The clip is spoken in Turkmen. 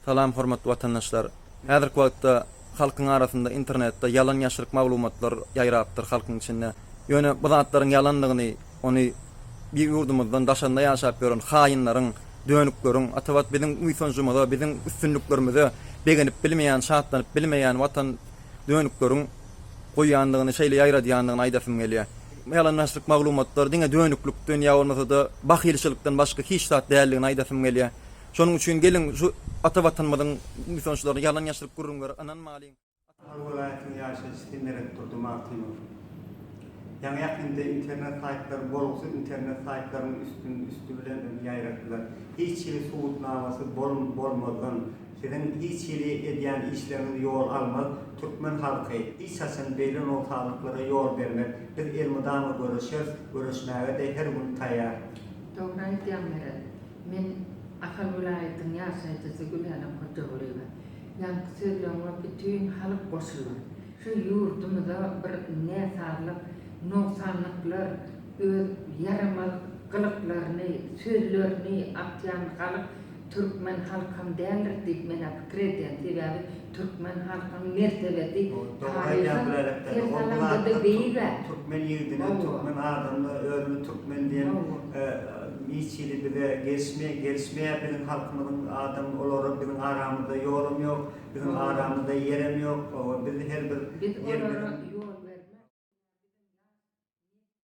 Salam hormatly watandaşlar. Häzirki wagtda halkyň arasynda internetde ýalan ýaşryk maglumatlar ýaýrapdyr halkyň içinde. Ýöne bu zatlaryň ýalandygyny ony bir ýurdumyzdan daşanda ýaşap ýören haýynlaryň, dönükleriň, atabat biziň buýsanjymyza, biziň üstünliklerimize begenip bilmeýän, şatlanyp bilmeýän watan dönükleriň goýýandygyny şeýle ýaýradýandygyny aýdasym gelýär. Bu ýalan ýaşryk maglumatlar diňe dönüklikden ýa bolmasa-da bahylçylykdan başga hiç zat däldigini aýdasym gelýär. Şonuň üçin geliň şu ata Watanymyzyň buýsançlaryna ýalan ýaşryk gürrüňlere ynanmalyň. Ahal welaýatynyň ýaşaýjysy Hemeret Durdymagtymow. Ýaňy-ýakynda internet saýtlary bolgusyz internet saýtlaryň üstün üsti bilen ýaýratdylar. Hiç hili subutnamasy bolmazdan, siziň hiç hili edýän işleriňiz ýol almaz, türkmen halky hiç haçan beýle nogsanlyklara ýol bermez. Biz elmydama göreşeris, göreşmäge-de her gün taýar. Dogry aýdýaň Meret. Men Ahal welaýatynyň ýaşaýjysy Gülälem Hojagulyýewa. Ýaňky sözleriňe bütin halk goşular. Şu ýurdumyza bir näsazlyk, nogsanlyklar, öz ýaramaz gylyklaryny, sözlerini atýan halyk türkmen halkam däldir diýip men-ä pikir edýän. Sebäbi Türkmen halkyň mertebesi taryhyň her salamda-da beýig-ä. Türkmen ýigidine, türkmen adamyna özüni türkmen diýen hiç hili bize gelişmeýär. Biziň halkymyzyň adamy olary biziň aramyzda ýolam ýok, biziň aramyzda ýerem ýok. Biz her bir ýerimiziň.